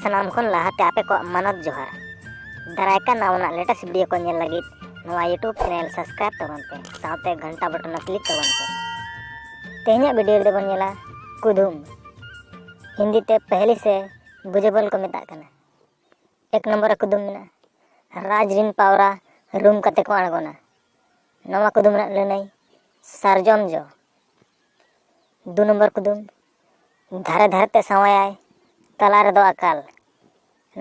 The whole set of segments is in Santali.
ᱥᱟᱱᱟᱢ ᱠᱷᱚᱱ ᱞᱟᱦᱟᱛᱮ ᱟᱯᱮ ᱠᱚᱣᱟᱜ ᱢᱟᱱᱚᱛ ᱡᱚᱦᱟᱨ ᱫᱟᱨᱟᱭ ᱠᱟᱱ ᱱᱟᱣᱟᱱᱟᱜ ᱞᱮᱴᱮᱥᱴ ᱵᱷᱤᱰᱤᱭᱳ ᱠᱚ ᱧᱮᱞ ᱞᱟᱹᱜᱤᱫ ᱱᱚᱣᱟ ᱤᱭᱩᱴᱩᱵᱽ ᱪᱮᱱᱮᱞ ᱥᱟᱵᱥᱠᱨᱟᱭᱤᱵ ᱛᱟᱵᱚᱱ ᱯᱮ ᱥᱟᱶᱛᱮ ᱜᱷᱟᱱᱴᱟ ᱵᱚᱴᱚᱱ ᱦᱚᱸ ᱠᱞᱤᱠ ᱛᱟᱵᱚᱱ ᱯᱮ ᱛᱮᱦᱮᱧᱟᱜ ᱵᱷᱤᱰᱤᱭᱳ ᱨᱮᱫᱚ ᱵᱚᱱ ᱧᱮᱞᱟ ᱠᱩᱫᱩᱢ ᱦᱤᱱᱫᱤ ᱛᱮ ᱯᱮᱦᱞᱤ ᱥᱮ ᱵᱩᱡᱮᱵᱚᱞ ᱠᱚ ᱢᱮᱛᱟᱜ ᱠᱟᱱᱟ ᱮᱠ ᱱᱚᱢᱵᱚᱨ ᱠᱩᱫᱩᱢ ᱢᱮᱱᱟᱜᱼᱟ ᱨᱟᱡᱽ ᱨᱤᱱ ᱯᱟᱣᱨᱟ ᱨᱩᱢ ᱠᱟᱛᱮ ᱠᱚ ᱟᱬᱜᱚᱱᱟ ᱱᱚᱣᱟ ᱠᱩᱫᱩᱢ ᱨᱮᱱᱟᱜ ᱞᱟᱹᱱᱟᱹᱭ ᱥᱟᱨᱡᱚᱢ ᱡᱚ ᱫᱩ ᱱᱚᱢᱵᱚᱨ ᱠᱩᱫᱩᱢ ᱫᱷᱟᱨᱮ ᱫᱷᱟᱨᱮ ᱛᱮ ᱥᱟᱶᱟᱭᱟᱭ ᱛᱟᱞᱟ ᱨᱮᱫᱚ ᱟᱠᱟᱞ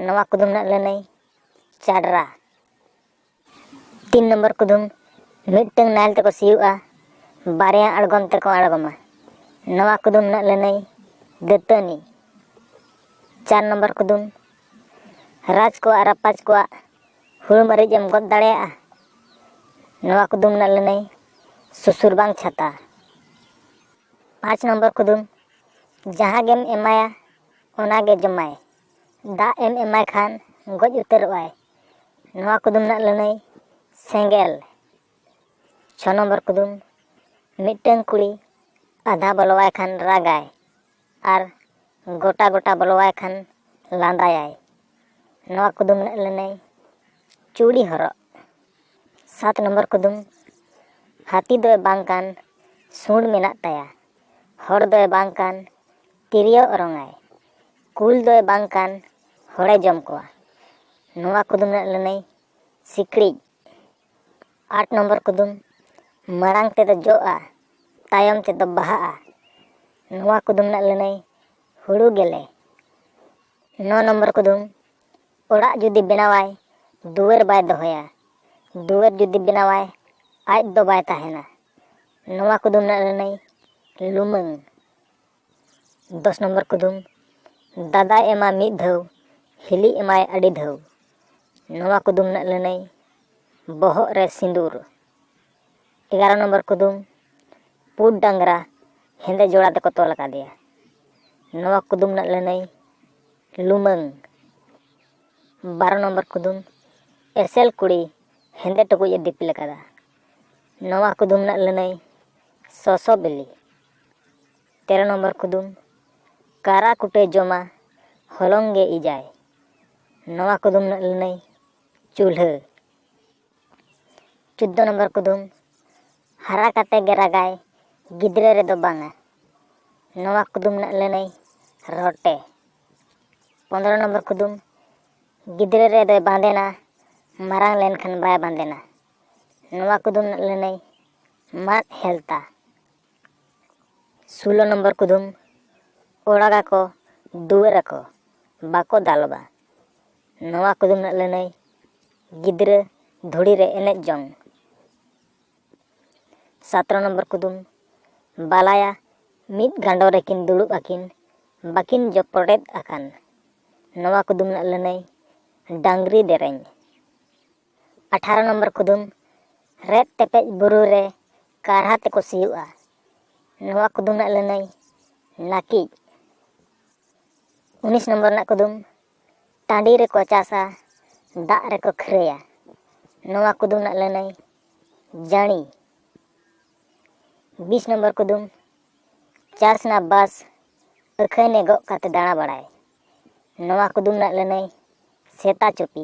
ᱱᱚᱣᱟ ᱠᱩᱫᱩᱢ ᱨᱮᱱᱟᱜ ᱞᱟᱹᱱᱟᱹᱭ ᱪᱟᱰᱨᱟ ᱛᱤᱱ ᱱᱚᱢᱵᱚᱨ ᱠᱩᱫᱩᱢ ᱢᱤᱫᱴᱟᱝ ᱱᱟᱦᱮᱞ ᱛᱮᱠᱚ ᱥᱤᱭᱳᱜᱼᱟ ᱵᱟᱨᱭᱟ ᱟᱬᱜᱚᱢ ᱛᱮᱠᱚ ᱟᱬᱜᱚᱢᱟ ᱱᱚᱣᱟ ᱠᱩᱫᱩᱢ ᱨᱮᱱᱟᱜ ᱞᱟᱹᱱᱟᱹᱭ ᱫᱟᱹᱛᱟᱹᱱᱤ ᱪᱟᱨ ᱱᱚᱢᱵᱚᱨ ᱠᱩᱫᱩᱢ ᱨᱟᱡᱽ ᱠᱚᱣᱟᱜ ᱨᱟᱯᱟᱡᱽ ᱠᱚᱣᱟᱜ ᱦᱩᱲᱩ ᱢᱟᱹᱨᱤᱪ ᱮᱢ ᱜᱚᱫ ᱫᱟᱲᱮᱭᱟᱜᱼᱟ ᱱᱚᱣᱟ ᱠᱩᱫᱩᱢ ᱨᱮᱱᱟᱜ ᱞᱟᱹᱱᱟᱹᱭ ᱥᱩᱥᱩᱨ ᱵᱟᱝ ᱪᱷᱟᱛᱟ ᱯᱟᱸᱪ ᱱᱚᱢᱵᱚᱨ ᱠᱩᱫᱩᱢ ᱡᱟᱦᱟᱸ ᱜᱮᱢ ᱮᱢᱟᱭᱟ ᱚᱱᱟ ᱜᱮ ᱡᱚᱢᱟᱭ ᱫᱟᱜ ᱮᱢ ᱮᱢᱟᱭ ᱠᱷᱟᱱ ᱜᱚᱡ ᱩᱛᱟᱹᱨᱚᱜᱼᱟᱭ ᱱᱚᱣᱟ ᱠᱩᱫᱩᱢ ᱨᱮᱱᱟᱜ ᱞᱟᱹᱱᱟᱹᱭ ᱥᱮᱸᱜᱮᱞ ᱪᱷᱚ ᱱᱚᱢᱵᱚᱨ ᱠᱩᱫᱩᱢ ᱢᱤᱫᱴᱟᱹᱝ ᱠᱩᱲᱤ ᱟᱫᱷᱟ ᱵᱚᱞᱚᱣᱟᱭ ᱠᱷᱟᱱ ᱨᱟᱜᱟᱭ ᱟᱨ ᱜᱚᱴᱟ ᱜᱚᱴᱟ ᱵᱚᱞᱚᱣᱟᱭ ᱠᱷᱟᱱ ᱞᱟᱸᱫᱟᱭᱟᱭ ᱱᱚᱣᱟ ᱠᱩᱫᱩᱢ ᱨᱮᱱᱟᱜ ᱞᱟᱹᱱᱟᱹᱭ ᱪᱩᱲᱤ ᱦᱚᱨᱚᱜ ᱥᱟᱛ ᱱᱚᱢᱵᱚᱨ ᱠᱩᱫᱩᱢ ᱦᱟᱹᱛᱤ ᱫᱚᱭ ᱵᱟᱝ ᱠᱟᱱ ᱥᱩᱸᱰ ᱢᱮᱱᱟᱜ ᱛᱟᱭᱟ ᱦᱚᱲ ᱫᱚᱭ ᱵᱟᱝ ᱠᱟᱱ ᱛᱤᱨᱭᱳ ᱚᱨᱚᱝᱟᱭ ᱠᱩᱞ ᱫᱚᱭ ᱵᱟᱝ ᱠᱟᱱ ᱦᱚᱲᱮ ᱡᱚᱢ ᱠᱚᱣᱟ ᱱᱚᱣᱟ ᱠᱩᱫᱩᱢ ᱨᱮᱱᱟᱜ ᱞᱟᱹᱱᱟᱹᱭ ᱥᱤᱠᱲᱤᱡ ᱟᱴ ᱱᱚᱢᱵᱚᱨ ᱠᱩᱫᱩᱢ ᱢᱟᱲᱟᱝ ᱛᱮᱫᱚ ᱡᱚᱜᱼᱟ ᱛᱟᱭᱚᱢ ᱛᱮᱫᱚ ᱵᱟᱦᱟᱜᱼᱟ ᱱᱚᱣᱟ ᱠᱩᱫᱩᱢ ᱨᱮᱱᱟᱜ ᱞᱟᱹᱱᱟᱹᱭ ᱦᱩᱲᱩ ᱜᱮᱞᱮ ᱱᱚ ᱱᱚᱢᱵᱚᱨ ᱠᱩᱫᱩᱢ ᱚᱲᱟᱜ ᱡᱩᱫᱤ ᱵᱮᱱᱟᱣᱟᱭ ᱫᱩᱣᱟᱹᱨ ᱵᱟᱭ ᱫᱚᱦᱚᱭᱟ ᱫᱩᱣᱟᱹᱨ ᱡᱩᱫᱤ ᱵᱮᱱᱟᱣᱟᱭ ᱟᱡ ᱫᱚ ᱵᱟᱭ ᱛᱟᱦᱮᱱᱟ ᱱᱚᱣᱟ ᱠᱩᱫᱩᱢ ᱨᱮᱱᱟᱜ ᱞᱟᱹᱱᱟᱹᱭ ᱞᱩᱢᱟᱹᱝ ᱫᱚᱥ ᱱᱚᱢᱵᱚᱨ ᱠᱩᱫᱩᱢ ᱫᱟᱫᱟᱭ ᱮᱢᱟ ᱢᱤᱫ ᱫᱷᱟᱹᱣ ᱦᱤᱞᱤ ᱮᱢᱟᱭ ᱟᱹᱰᱤ ᱫᱷᱟᱹᱣ ᱱᱚᱣᱟ ᱠᱩᱫᱩᱢ ᱨᱮᱱᱟᱜ ᱞᱟᱹᱱᱟᱹᱭ ᱵᱚᱦᱚᱜ ᱨᱮ ᱥᱤᱸᱫᱩᱨ ᱮᱜᱟᱨᱚ ᱱᱚᱢᱵᱚᱨ ᱠᱩᱫᱩᱢ ᱯᱩᱰ ᱰᱟᱝᱨᱟ ᱦᱮᱸᱫᱮ ᱡᱚᱲᱟ ᱛᱮᱠᱚ ᱛᱚᱞ ᱟᱠᱟᱫᱮᱭᱟ ᱱᱚᱣᱟ ᱠᱩᱫᱩᱢ ᱨᱮᱱᱟᱜ ᱞᱟᱹᱱᱟᱹᱭ ᱞᱩᱢᱟᱹᱝ ᱵᱟᱨᱚ ᱱᱚᱢᱵᱚᱨ ᱠᱩᱫᱩᱢ ᱮᱥᱮᱞ ᱠᱩᱲᱤ ᱦᱮᱸᱫᱮ ᱴᱩᱠᱩᱡ ᱮ ᱫᱤᱯᱤᱞ ᱟᱠᱟᱫᱟ ᱱᱚᱣᱟ ᱠᱩᱫᱩᱢ ᱨᱮᱱᱟᱜ ᱞᱟᱹᱱᱟᱹᱭ ᱥᱚᱥᱚ ᱵᱤᱞᱤ ᱛᱮᱨᱚ ᱱᱚᱢᱵᱚᱨ ᱠᱩᱫᱩᱢ ᱠᱟᱨᱟ ᱠᱩᱴᱟᱹ ᱡᱚᱢᱟ ᱦᱚᱞᱚᱝ ᱜᱮ ᱤᱡᱟᱭ ᱱᱚᱣᱟ ᱠᱩᱫᱩᱢ ᱨᱮᱱᱟᱜ ᱞᱟᱹᱱᱟᱹᱭ ᱪᱩᱞᱦᱟᱹ ᱪᱳᱫᱽᱫᱚ ᱱᱚᱢᱵᱚᱨ ᱠᱩᱫᱩᱢ ᱦᱟᱨᱟ ᱠᱟᱛᱮ ᱜᱮ ᱨᱟᱜᱟᱭ ᱜᱤᱫᱽᱨᱟᱹ ᱨᱮᱫᱚ ᱵᱟᱝᱟ ᱱᱚᱣᱟ ᱠᱩᱫᱩᱢ ᱨᱮᱱᱟᱜ ᱞᱟᱹᱱᱟᱹᱭ ᱨᱚᱴᱮ ᱯᱚᱱᱨᱚ ᱱᱚᱢᱵᱚᱨ ᱠᱩᱫᱩᱢ ᱜᱤᱫᱽᱨᱟᱹ ᱨᱮᱫᱚᱭ ᱵᱟᱸᱫᱮᱱᱟ ᱢᱟᱨᱟᱝ ᱞᱮᱱᱠᱷᱟᱱ ᱵᱟᱭ ᱵᱟᱸᱫᱮᱱᱟ ᱱᱚᱣᱟ ᱠᱩᱫᱩᱢ ᱨᱮᱱᱟᱜ ᱞᱟᱹᱱᱟᱹᱭ ᱢᱟᱫ ᱦᱮᱞᱛᱟ ᱥᱳᱞᱳ ᱱᱚᱢᱵᱚᱨ ᱠᱩᱫᱩᱢ ᱚᱲᱟᱜᱟᱠᱚ ᱫᱩᱣᱟᱹᱨᱟᱠᱚ ᱵᱟᱠᱚ ᱫᱟᱞᱚᱵᱟ ᱱᱚᱣᱟ ᱠᱚᱫᱚ ᱢᱮᱱᱟᱜ ᱞᱟᱹᱱᱟᱹᱭ ᱜᱤᱫᱽᱨᱟᱹ ᱫᱷᱩᱲᱤ ᱨᱮ ᱮᱱᱮᱡ ᱡᱚᱝ ᱥᱟᱛᱨᱚ ᱱᱚᱢᱵᱚᱨ ᱠᱩᱫᱩᱢ ᱵᱟᱞᱟᱭᱟ ᱢᱤᱫ ᱜᱟᱸᱰᱚ ᱨᱮᱠᱤᱱ ᱫᱩᱲᱩᱵ ᱟᱹᱠᱤᱱ ᱵᱟᱹᱠᱤᱱ ᱡᱚᱯᱚᱲᱮᱫ ᱟᱠᱟᱱ ᱱᱚᱣᱟ ᱠᱩᱫᱩᱢ ᱨᱮᱱᱟᱜ ᱞᱟᱹᱱᱟᱹᱭ ᱰᱟᱝᱨᱤ ᱫᱮᱨᱮᱧ ᱟᱴᱷᱟᱨᱚ ᱱᱚᱢᱵᱚᱨ ᱠᱩᱫᱩᱢ ᱨᱮᱫ ᱛᱮᱯᱮᱡ ᱵᱩᱨᱩ ᱨᱮ ᱠᱟᱨᱦᱟ ᱛᱮᱠᱚ ᱥᱤᱭᱳᱜᱼᱟ ᱱᱚᱣᱟ ᱠᱩᱫᱩᱢ ᱨᱮᱱᱟᱜ ᱞᱟᱹᱱᱟᱹᱭ ᱱᱟᱹᱠᱤᱡ ᱩᱱᱤᱥ ᱱᱚᱢᱵᱚᱨ ᱨᱮᱱᱟᱜ ᱠᱩᱫᱩᱢ ᱴᱟᱺᱰᱤ ᱨᱮᱠᱚ ᱪᱟᱥᱟ ᱫᱟᱜ ᱨᱮᱠᱚ ᱠᱷᱟᱹᱨᱟᱹᱭᱟ ᱱᱚᱣᱟ ᱠᱩᱫᱩᱢ ᱨᱮᱱᱟᱜ ᱞᱟᱹᱱᱟᱹᱭ ᱡᱟᱹᱬᱤ ᱵᱤᱥ ᱱᱚᱢᱵᱚᱨ ᱠᱩᱫᱩᱢ ᱪᱟᱥ ᱨᱮᱱᱟᱜ ᱵᱟᱥ ᱟᱹᱠᱷᱟᱹᱱᱮ ᱜᱚᱜ ᱠᱟᱛᱮ ᱫᱟᱬᱟ ᱵᱟᱲᱟᱭ ᱱᱚᱣᱟ ᱠᱩᱫᱩᱢ ᱨᱮᱱᱟᱜ ᱞᱟᱹᱱᱟᱹᱭ ᱥᱮᱛᱟ ᱪᱩᱯᱤ